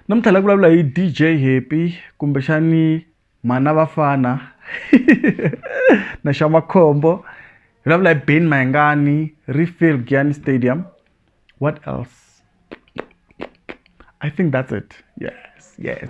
namuntlha la vulavula hi dj happy kumbexani mhana vafana na xa makhombo vulavula hi ben mayengani refill giani stadium what else i think that's it yes yes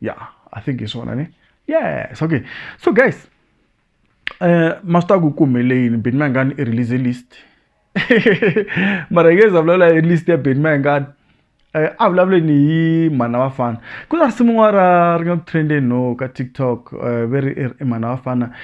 yeah i think hi swona ne yes okay so guys eh master ku kumele yini bit mangani i release list mara ngeza vulavula hi list ya bit mangani eh a vulavule ni hi mhana vafana ku na risimu n'wana ra ri nga ku trendeni no ka tiktok eh ve ri i mhana vafana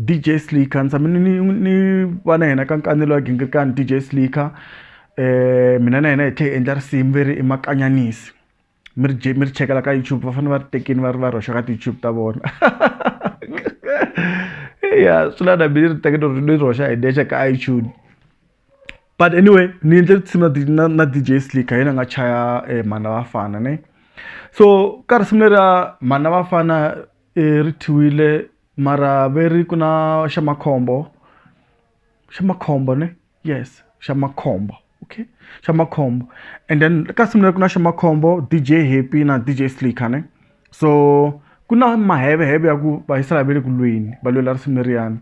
D_J slika ni tshame ni ni ni va na yena ka nkanelo wa ghingirikani D_J slika mina na yena hi tlhe hi endla risimu ve ri i makanyanisi mi ri mi ri chekela ka YouTube va fane va ri tekini va ri va ri hoxa ka ti-YouTube ta vona eya swi la na me ni ri teke ni ri ni ri hoxa hi nexe ka iTunes but anyway ni endle tinsimu na na na D_J slika hi yena a nga chaya mhani na vafana ne so ka risimu leriya mhani na vafana ri thyiwile. mara ve ri ku na xa makhombo xa makhombo ne yes xa makhombo okay xa makhombo and then ka nsimu leri ku na xa makhombo D_J Happy na D_J Slika ne so ku na maheveheve ya ku va yisa laha va le ku lweni va lwela risimu leriyani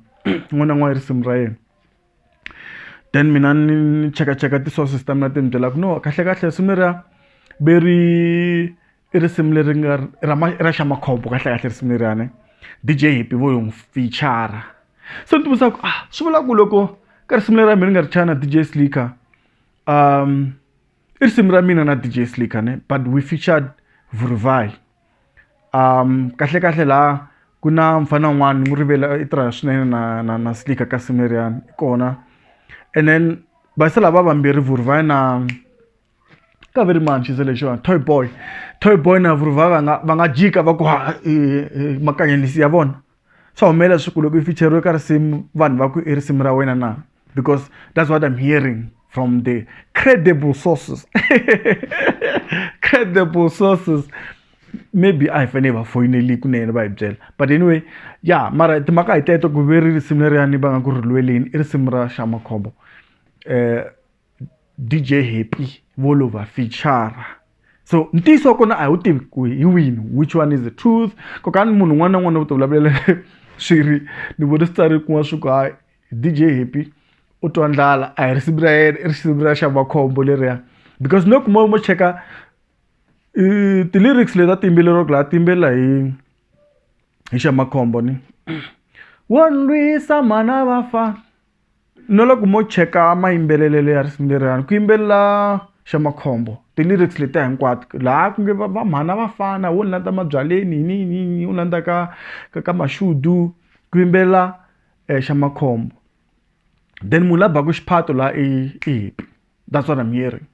un'wana na un'wana risimu ra yena then mina ni ni chekacheka ti-sources ta mina ti ni byela ku no kahlekahle risimu leriya ve ri i risimu leri nga ra ra xa makhombo kahlekahle risimu leriyani D_J happy vo n'wi fichara se ni ti vutisa ku a swi vula ku loko ka risimu leri ra mina ni nga ri chaya na D_J slika i risimu ra mina na D_J slika ne but we featured Vuruvai kahlekahle la ku na mufana un'wana ni n'wi rivele i tirha swinene na na na slika ka risimu leriyani kona and then va se lava vambirhi Vuruvai na. ka ve ri mani xi ze lexiwani toy boy toy boy na vurhova va nga va nga jika va ku ha makanyelisi ya vona swa humelela swa ku loko i ficheriwe ka risimu vanhu va ku i risimu ra wena na because that's what am hearing from the credible sources credible sources maybe a hi fanele hi va foyineli kunene va hi byela but anyway ya mara timhaka hi teto ku ve ri risimu leriyani va nga ku ri lweleni i risimu ra xa makhombo um DJ Happy vo lo va fichara so ntiyiso wa kona a hi wu tivi ku hi wini which one is the truth ko ka ni munhu un'wana na un'wana u ti vulavulela swi ri ni vone swi tsari kun'wana swi ku hayi DJ Happy u twa ndlala a hi risimu ra yena i risimu ra Xavakhombo leriya because loko mo mo cheka ti-lyrics leti a ti yimbeleriwaka laha ti yimbelela hi hi Xamakhombo ni wo ni lwisa mhana vafana. No loko mo cheka mayimbelelelo ya risimu leriwani ku yimbelela xa makhombo ti-lyrics letiya hinkwato laha ku nge va va mhana vafana wo ni landza mabyaleni yini yini yini yini wo landza ka ka ka mashudu ku yimbelela xa makhombo then munhu la baku xiphato la i i happy that's what am hearing.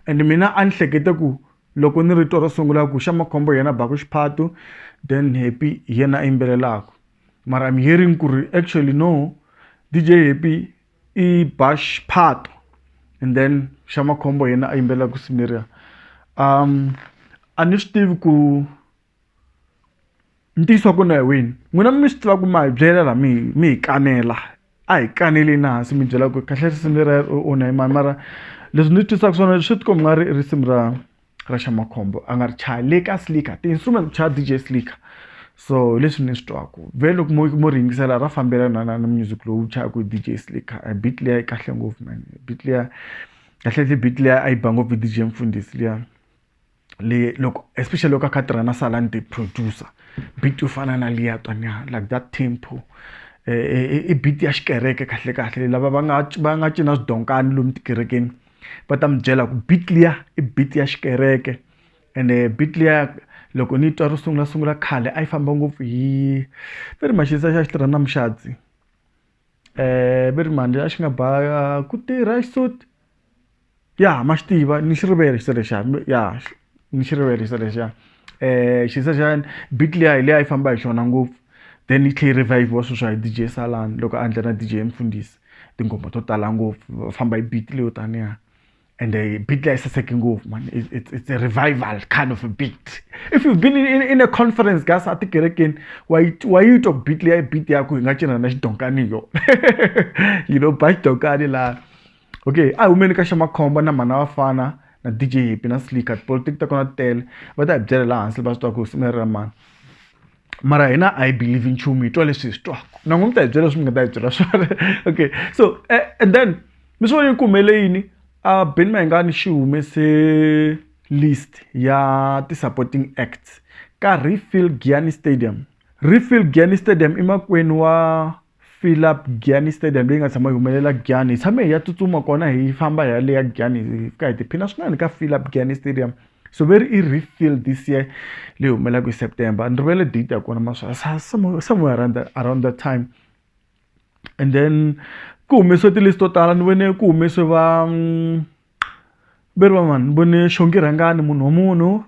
and mina a ni hlekete ku loko ni rito ro sungula ku xa makhombo yena baku xiphato then happy hi yena a yimbelelaka mara I'm hearing ku ri actually no DJ happy i ba xiphato and then xa makhombo yena a yimbelela ku simiria um a ni swi tivi ku ntiyiso wa kona hi wini n'wina mi swi tiva ku ma hi byela la mi mi hi kanela a hi kaneleni hansi mi byela ku kahle risimu lera onha hi mani mara leswi ndzi twisaka swona swi ti komba nga ri risimu ra ra xa makhombo a nga ri chaya le ka slika ti-instrument ku chaya D_J slika so hi leswi ni swi twaku ve loko mo mo ri yingisela ra fambelana na na music lowu chayaku hi D_J slika a beat liya yi kahle ngopfu man beat liya kahlekahle beat liya a yi ba ngopfu hi D_J mfundhisi liya. le loko especially loko a kha tirha na salani the producer beat yo fana na liya twanyana like that tempo i beat ya xikereke kahle kahle lava va nga va nga cina swidonkani lomu tikerekeni va ta mi byela ku beat liya i beat ya xikereke ende beat liya loko ni twa ro sungula sungula khale a yi famba ngopfu hi ve ri maxinisa xa xi tirha na muxadzi ve ri mhani a xi nga ba ku tirha xisuti ya ma xi tiva ni xi rivele xisa lexiya ya ni xi rivele xisa lexiya xisa xa beat liya hi liya a yi famba hi xona ngopfu then yi tlhe yi revive-wa sweswiwa hi D_J Salani loko a endla na D_J Mfundisi tinghoma to tala ngopfu va famba hi beat leyo taniya ende beat liya yi saseke ngopfu man it's it's a revival kind of a beat if you been in in a conference ka se a tikerekeni wa yi wa yi twa beat liya i beat ya ku hi nga cinca na xidongani hi yona you know ba xidongani laha. okay a hi humeni ka xa makhombo na mhana vafana na DJ Happy na Slicker politics ta kona tele va ta hi byela laha hansi va swi twa ku simu ra mani mara hina a yi believe nchumu hi twa leswi hi swi twaka na n'wi mi ta hi byela leswi mi nga ta hi byela swona okay so eh, and then mi swi vone ku humele yini a Ben Mayengani xi humese list ya ti-supporting acts ka Refill Gianni Stadium Refill Gianni Stadium i makwenu wa fill up Giyani stadium leyi nga tshama yi humelela Giyani hi tshame hi ya tsutsuma kona hi famba hi ya le ya Giyani hi fika hi tiphina swinene ka fill up Giyani stadium so ve ri i refill this year leyi humelelaka hi September a ni rivele date ya kona mara swa sa somewhere somewhere around that around that time and then ku humesiwe ti-list to tala ni vone ku humesiwe va. Beri van'wana vone xongi rhangani munhu wa munhu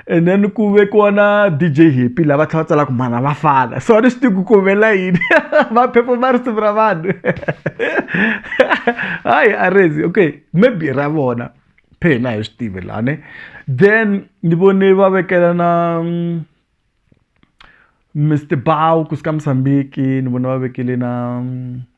and then ku vekiwa na D_J happy la va tlhela va tsala ku mhana vafana so a ni swi tivi ku ku humelela yini va perform-a risimu ra vanhu hayi a rezi okay maybe ra vona phe hina a hi swi tivi la ne then ni vone va vekela na Mister Bow kusuka Musambiki ni vona va vekele na.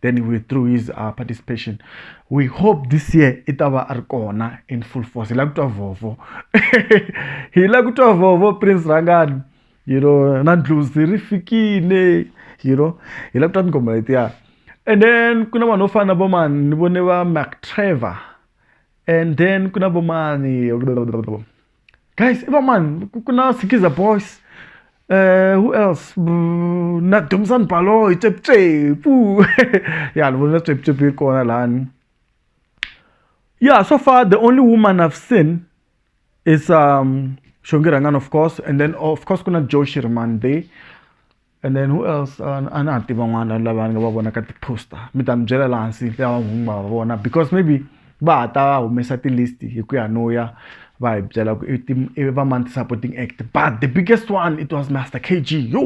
then he withdrew his uh, participation we hope this year i ta va a ri kona in full force hi la ku twa vovo hi la ku twa vovo prince rangani you know na ndluzi ri fikile you know hi la ku twa tinghoma letiya and then ku na vanhu vo fana na vomani ni vone va mac trevor and then ku na vomani guys i va mani ku ku na sikiza boys uh, who else mm, na domsani baloyi tseputsepu ya ni vonile tseputsepu yi kona lani yeah so far the only woman i've seen is um shongi rangan of course and then of course kuna joe shirman there And then who else a ni ha tiva n'wana lava ni nga va vona ka ti-poster mi ta mi byela laha hansi lava n'wini va va vona because maybe va ha ta humesa ti-list hi ku ya no ya va hi byela ku i va mani ti-supporting act but the biggest one it was master k g yo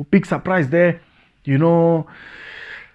big surprise there you know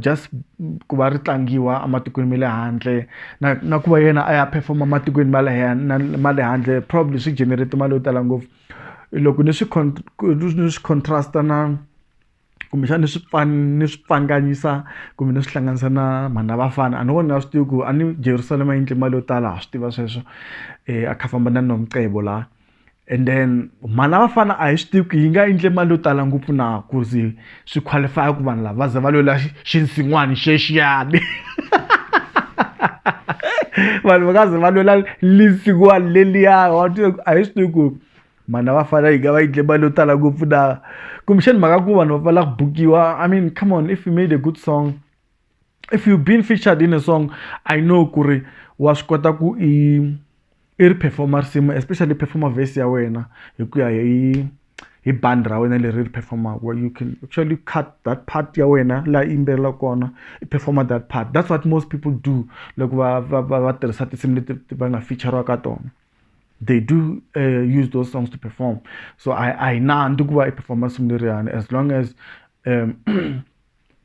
just ku va ri tlangiwa ematikweni ma le handle na na ku va yena a ya perform-a ematikweni ma le ma le handle probably swi generate mali yo tala ngopfu loko ni swi ni swi contrast-a na kumbexani ni swi ni swi pfanganyisa kumbe ni swi hlanganisa na Mhani na Vafana a ni voni ni nga swi tivi ku a ni Jerusalema yi endle mali yo tala ha swi tiva sweswo a kha a famba na Nomcebo la. and then mali ya vafana a hi swi tivi ku yi nga endle mali yo tala ngopfu na ku ze swi qualify-a ku vanhu lava va ze va lwela xinsin'wani xexiyani vanhu va nga ze va lwela linsin'wani leliya wa tiva ku a hi swi tivi ku mhana va fana yi nga va endle mali yo tala ngopfu na kumbexani mhaka ku vanhu va pfala ku bukiwa i mean come on if you made a good song if you've been featured in a song i know ku ri wa swi kota ku i i ri performa risimu especially performa vhesi ya wena hi ku ya hi hi bandi ra wena leri ri performaka you can actually cut that part ya wena laha yimbelelaka kona i performa that part that's what most people do loko va va va va tirhisa tinsimu leti va nga feature ka tona they do uh, use those songs to perform so i i nandzi ku va i performa risimu leriyani as long as um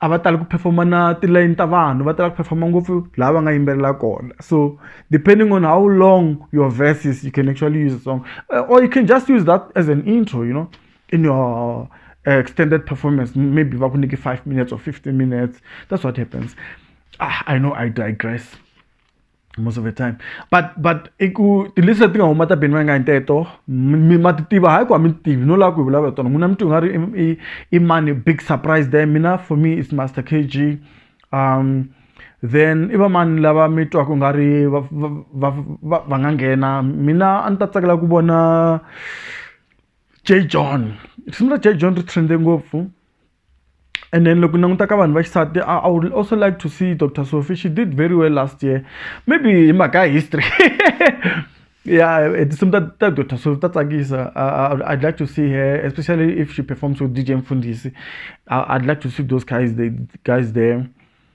a va tali ku perform-a na tilayini ta vanhu va tala ku perform-a ngopfu laha va nga yimbelela kona so depending on how long your verses you can actually use a song or you can just use that as an intro you know in your uh, extended performance maybe va ku nyike five minutes or fifteen minutes that's what happens ah, i know i digress most of the time but but i ku tilisi leti nga huma ta beni va nga hi teto mi ma ti tiva hayi ku a mi ti tivi no lava ku hi vulavula tona n'wina mi twi nga ri i mani big surprise there mina for me is master k g um then i va mani lava mi twaka nga ri va va va va nga nghena mina a ni ta tsakela ku vona j john risimu ra j john ri trende ngopfu And then loko ni languta ka vanhu va xisati I, I would also like to see Dr. Sophie. She did very well last year. Maybe hi mhaka ya history. yeah, tinsimu ta ta Dr. Sophie ta tsakisa. Uh, I'd like to see her, especially if she performs with DJ Mfundisi. I, I'd like to see those guys, the guys there.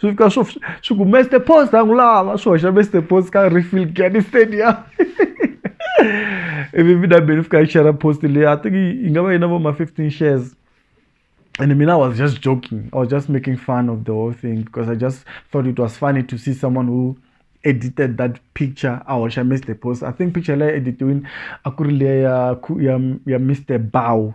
swi fika swo swi ku Mister Post a n'wi lava swi hoxa Mister Post ka refill Giyani Stadium ivi mina be ni fika ni xera post leyi I think yi nga va yi na vo ma fifteen shares and mina I was just joking I was just making fun of the whole thing because I just thought it was funny to see someone who edited that picture a hoxa Mister Post I think picture leyi editiwini a ku ri leya ya ya Mister Bow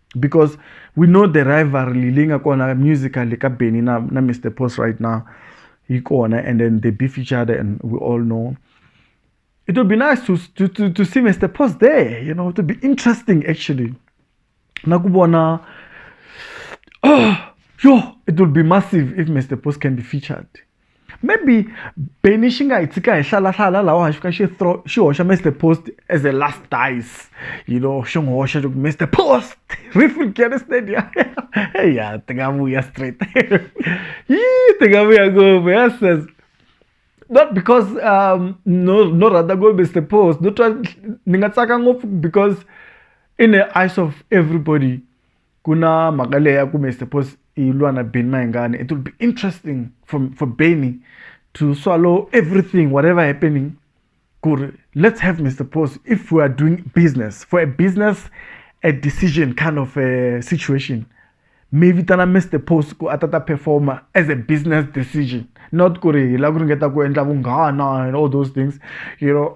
because we know the rivalry leyi nga kona musically ka benny na, na mr post right now yi kona and then they beef each other and we all know it would be nice to, to, to, to see mr post there you know it would be interesting actually na ku vona oh, yo it would be massive if mr post can be featured maybe Benny xi nga hi tshika hi hlalahlala laha a xi fika xi throw xi hoxa Mister Post as a last dice you know xi n'wi hoxa loko Mister Post Riffield Gary Stadium ya ti nga vuya straight yi ti nga vuya ngopfu ya says not because um, no no rhandza ngopfu Mister Post no twa ni nga tsaka ngopfu because in the eyes of everybody ku na mhaka leyi ya ku me suppose i lwa na Benny Mayengani it will be interesting for for Benny to swallow everything whatever happening ku ri let's have me suppose if we are doing business for a business a decision kind of a situation mi vitana Mister Post ku a ta ta perform-a as a business decision not ku ri hi lava ku ringeta ku endla vunghana and all those things you know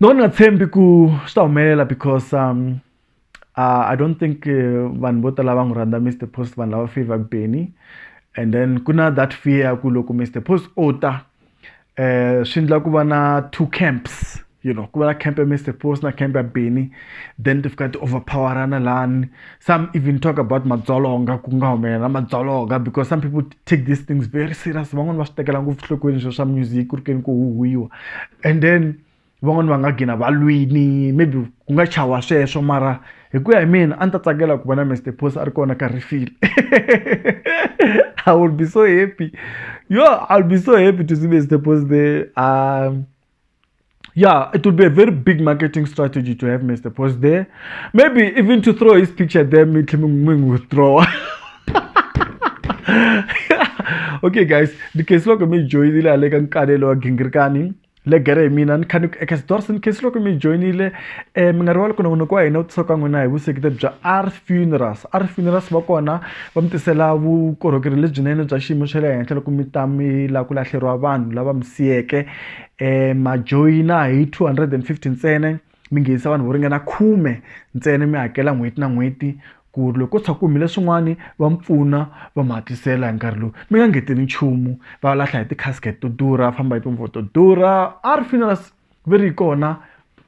no ni nga tshembi ku swi ta humelela because um, uh, i don't think uh, vanhu vo tala va n'wi rhandza mr post vanhu lava favor benny and then ku na that fear ya ku loko mr post o ta um swi endla ku va na two camps you know ku va na camp ya mr post na camp ya benny then ti fika ti overpowerana lani some even talk about madzolonga ku nga humelela madzolonga because some people take these things very serious van'wani va swi tekela ngopfu nhlokweni swo swa music ku ri keni ku huhwiwa and then van'wani va nga gina va lwini maybe ku nga chawa sweswo mara hi ku ya hi mina a ni ta tsakela ku vona Mister Boss a ri kona ka refill I will be so happy yo I will be so happy to see Mister Boss there . yeah it would be a very big marketing strategy to have mr post there maybe even to throw his picture there me withdraw okay guys because look at me joy the like and kadelo gingirkani le gere mina ni khani eka sidorson case loko mi joinile eh mi nga rivali ku na n'wina ku wa hina u tisoka n'wina hi vusekete bya r funerals r funerals va kona va mi tisela vukorhokeri lebyinene bya xiyimo xa le henhla loko mi ta mi la ku lahleriwa vanhu lava mi siyeke eh ma joyina hi 250 ntsena mi nghenisa vanhu vo ringana khume ntsena mi hakela n'hweti na n'hweti ku ri loko ko tsha ku humile swin'wana va mi pfuna va mi hatlisela hi nkarhi lowu mi nga ngeteli nchumu va lahla hi ti-casket to durha famba hi timovha to durha a ri funerals va ri kona